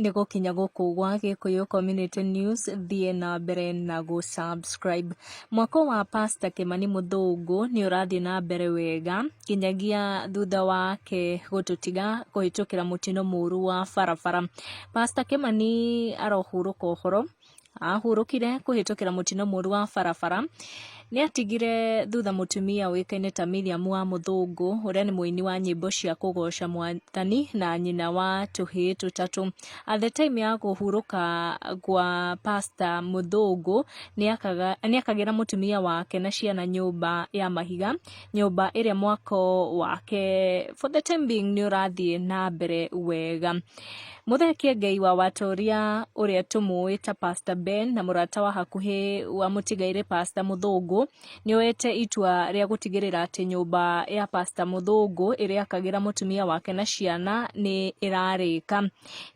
nĩ gũkinya gũkũ gwa gĩkũyũ community news thiĩ na mbere na gũ subscribe mwako wa pastor kĩmani mũthũngũ nĩ ũrathiĩ na mbere wega nginyagia thutha wake gũtũtiga kũhĩtũkĩra mũtino mũru wa barabara pastor kĩmani arohurũka ũhoro ahurũkire kũhĩtũkĩra mũtino mũru wa barabara nĩ atigire thutha mũtumia ũĩkaine ta Miriam wa Mũthũngũ ũrĩa nĩ mũini wa nyĩmbo cia kũgoca mwathani na nyina wa tũhĩ tũtatũ. At the time ya kũhurũka gwa Pastor Mũthũngũ nĩ akagĩra mũtumia wake na ciana nyũmba ya mahiga, nyũmba ĩrĩa mwako wake for the time being nĩ ũrathiĩ na mbere wega. Mũthekie Ngai wa Watoria ũrĩa tũmũĩ ta Pastor Ben na mũrata wa hakuhĩ wa mũtigairĩ Pastor Mũthũngũ nĩoete itua rĩa gũtigĩrĩra atĩ nyũmba ya Pastor Mũthũngũ ĩrĩa akagĩra mũtumia wake na ciana nĩ ĩrarĩka.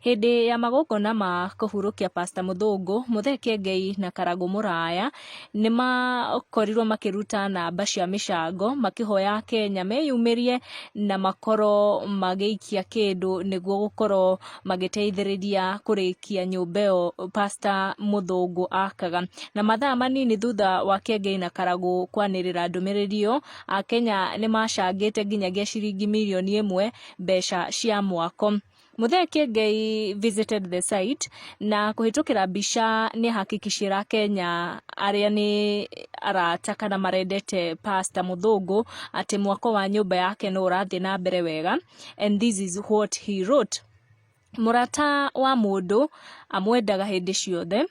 Hĩndĩ ya magongona ma kũhurũkia Pastor Mũthũngũ, Mũthekie Ngai na Karagũ Mũraya nĩ makorirwo makĩruta namba cia mĩcango makĩhoya Akenya meyumĩrie na makorwo magĩikia kĩndũ nĩguo gũkorwo magĩteithĩrĩria kũrĩkia nyũmba ĩyo Pastor Mũthũngũ akaga. Na mathaa manini thutha wa Kiengei na Karagũ kwanĩrĩra ndũmĩrĩri ĩyo, Akenya nĩ macangĩte nginyagia ciringi mirioni ĩmwe mbeca cia mwako. Muthee Kiengei visited the site na kuhitukira mbica ni hakikishira Kenya aria ni arata kana marendete Pastor Muthungu ati mwako wa nyumba yake no urathi na mbere wega and this is what he wrote Murata wa mundu amwendaga hindi ciothe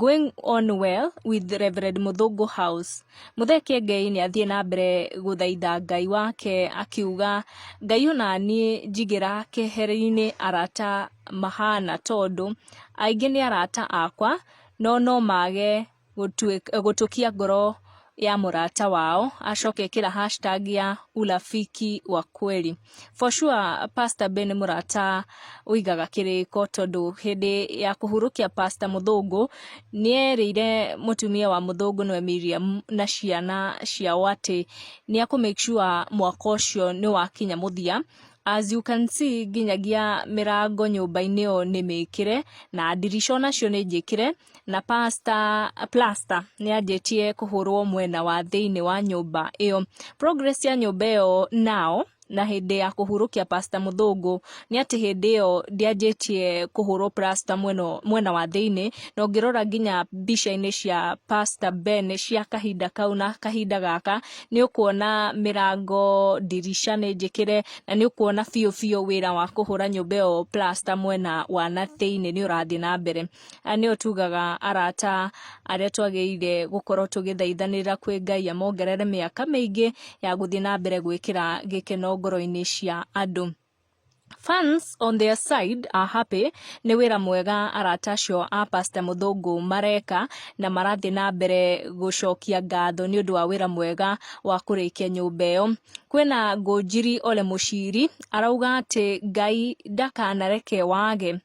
Going on well with Rev. Muthũngũ house. Muthee Kĩengei nĩ athiĩ na mbere gũthaitha Ngai wake akiuga, Ngai o naniĩ njigĩra keheri-inĩ arata mahana tondũ, aingĩ nĩ arata akwa no no mage gũtũkia ngoro ya mũrata wao acoke ĩkĩra hashtag ya urafiki wa kweli for sure pastor ben mũrata ũigaga kĩrĩko tondũ hĩndĩ ya kũhurũkia pastor mũthũngũ nĩerĩire mũtumia wa mũthũngũ nĩwe miriam na ciana ciao atĩ nĩakũ make sure mwaka ũcio nĩwakinya mũthia as you can see nginyagia mĩrango nyũmba-inĩ ĩyo nĩ mĩkĩre na ndirica onacio nĩ njĩkĩre na Pastor Plaster nĩ anjĩtie kũhũrwo mwena wa thĩinĩ wa nyũmba ĩyo. Progress ya nyũmba ĩyo nao na hĩndĩ ya kũhurũkia Pastor Mũthũngũ nĩ atĩ hĩndĩ ĩyo ndĩanjĩtie kũhũrwo plaster mwena, mwena wa thĩinĩ na ũngĩrora nginya mbica-inĩ cia Pastor Ben cia kahinda kau na kahinda gaka nĩ ũkuona mĩrango ndirica nĩ njĩkĩre na nĩ ũkuona biũ biũ wĩra wa kũhũra nyũmba ĩyo plaster mwena wa na thĩinĩ nĩ ũrathiĩ na mbere. Ah, nĩyo tugaga arata arĩa twagĩrĩire gũkorwo tũgĩthaithanĩra kwĩ ngai amongerere mĩaka mĩingĩ ya gũthiĩ na mbere gwĩkĩra gĩkeno ngoro-inĩ cia andũ Fans on their side are happy nĩ wĩra mwega arata acio a Pastor Mũthũngũ mareka na marathiĩ na mbere gũcokia ngatho nĩ ũndũ wa wĩra mwega wa kũrĩkia nyũmba ĩyo. Kwĩna Ngũnjiri Ole Mũciri arauga atĩ Ngai ndakanareke wage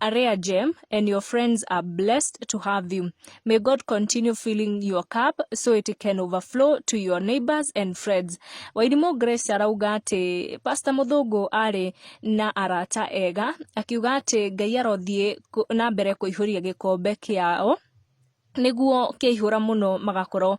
Areaje and your friends are blessed to have you. May God continue filling your cup so it can overflow to your neighbors and friends. Wairimũ Grace arauga atĩ Pastor Mũthũngũ arĩ na arata ega akiuga atĩ Ngai arothiĩ kũ- na mbere kũihũria gĩkombe kĩao nĩguo kĩaihũra mũno magakorwo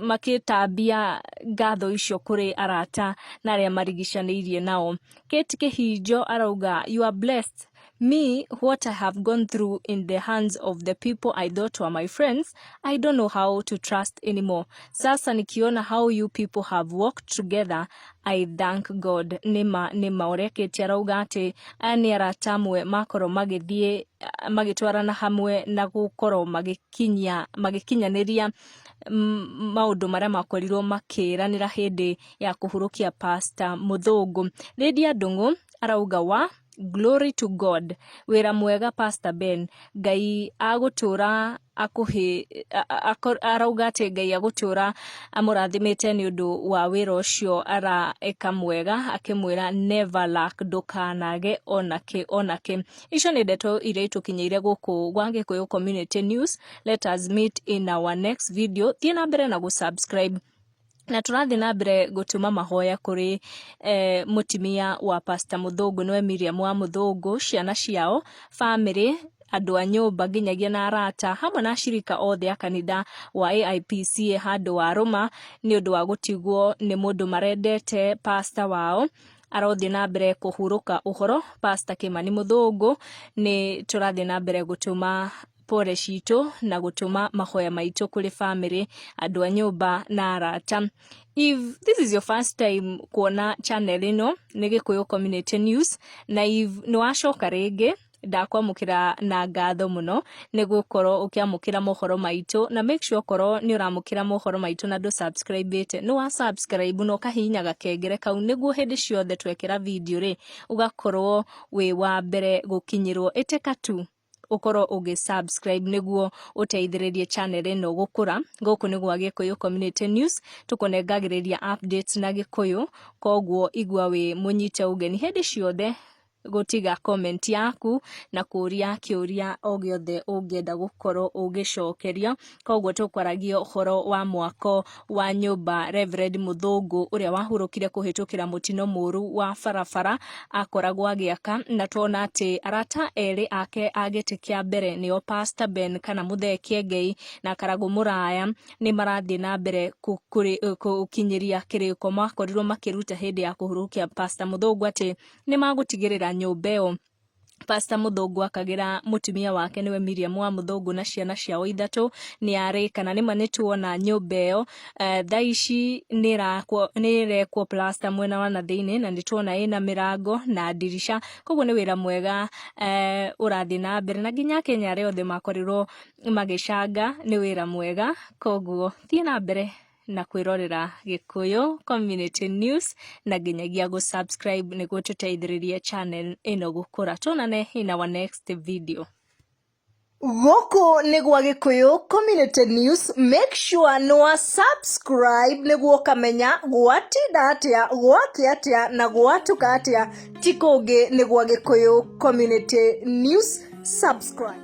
makĩtambia ngatho icio kũrĩ arata na arĩa marigicanĩirie nao. Kate Kĩhinjo arauga you are blessed me what I have gone through in the hands of the people I thought were my friends I don't know how to trust anymore sasa nikiona how you people have worked together I thank God nĩma nĩma ũrĩa Kĩti arauga atĩ aya nĩ arata amwe makorwo magĩthiĩ ah, magĩtwarana hamwe na gũkorwo magĩkinyia magĩkinyanĩria mm, maũndũ marĩa makorirwo makĩranĩra hĩndĩ ya kũhurũkia pasta mũthũngũ Lydia Ndung'u arauga wa Glory to God. Wĩra mwega Pastor Ben. Ngai agũtũra akũhĩ a- a- ako- arauga atĩ Ngai agũtũra amũrathimĩte nĩ ũndũ wa wĩra ũcio araeka mwega akĩmwĩra never lack ndũkanage onakĩ onakĩ. Icio nĩ ndeto iria itũkinyĩire gũkũ gwa Gĩkũyũ Community News. Let us meet in our next video. Thiĩ na mbere na gũ subscribe Na tũrathiĩ na mbere gũtũma mahoya kũrĩ mũtumia wa pastor Mũthũngũ nĩwe Miriam wa Mũthũngũ, ciana ciao, bamĩrĩ, andũ a nyũmba nginyagia na arata hamwe na ashirika othe a kanitha wa AIPC e handũ wa Rũma nĩ ũndũ wa gũtigwo nĩ mũndũ marendete pastor wao arothiĩ na mbere kũhurũka ũhoro pastor Kĩmani Mũthũngũ, nĩ tũrathiĩ na mbere gũtũma pore citũ na gũtũma mahoya maitũ kũrĩ bamĩrĩ andũ a nyũmba na arata if this is your first time kuona channel ĩno nĩ gĩkũyũ community news na if nĩwacoka rĩngĩ ndakwamũkĩra na ngatho mũno nĩ gũkorwo ũkĩamũkĩra mohoro maitũ na make sure korwo nĩ ũramũkĩra mohoro maitũ na ndũ subscribe ĩte nĩ wa subscribe na ũkahihinya gakengere kau nĩguo hĩndĩ ciothe twekĩra video rĩ ũgakorwo wĩ wa mbere gũkinyĩrwo ĩtĩka tu ũkorwo ũgĩ subscribe nĩguo ũteithĩrĩrie channel ĩno gũkũra gũkũ nĩ gwa gĩkũyũ community news tũkũnengagĩrĩria updates na gĩkũyũ koguo igua wĩ mũnyite ũgeni hĩndĩ ciothe gũtiga comment yaku na kũria kĩũria o gĩothe ũngĩenda gũkorwo ũgĩcokerio koguo tũkwaragia ũhoro wa mwako wa nyũmba Reverend Mũthũngũ ũrĩa wahurũkire kũhĩtũkĩra mũtino mũru wa barabara akoragwo agĩaka na tuona atĩ arata erĩ ake a gĩtĩ kĩa mbere nĩo Pastor Ben kana Mũthee Kĩengei na Karagũ Mũraya nĩ marathiĩ na mbere gũkinyĩria kĩrĩko makorirwo makĩruta hĩndĩ ya kũhurũkia Pastor Mũthũngũ atĩ nĩ magũtigĩrĩra nyũmba ĩyo Pastor Mũthũngũ akagĩra mũtumia wake nĩwe Miriam wa Mũthũngũ na ciana ciao ithatũ nĩ arĩ kana nĩma nĩ tuona nyũmba ĩyo eh, thaa ici nĩ ĩrakwo- nĩ ĩrekwo plaster mwena wa na thĩinĩ na nĩ tuona ĩna mĩrango na ndirisha koguo nĩ wĩra mwega eh, ũrathiĩ na mbere na nginya Kenya arĩa othe makorirwo magĩcanga nĩ wĩra mwega koguo thiĩ na mbere na kwĩrorera Gĩkũyũ Community News na nginyagia gũ subscribe nĩguo tũteithĩrĩrie channel ĩno gũkũra. Tuonane in our next video. Gũkũ nĩ gwa Gĩkũyũ Community News, make sure nĩ wa subscribe nĩguo ũkamenya gwatinda atĩa, gwake atĩa na gwatuka atĩa, ti kũngĩ nĩ gwa Gĩkũyũ Community News, subscribe.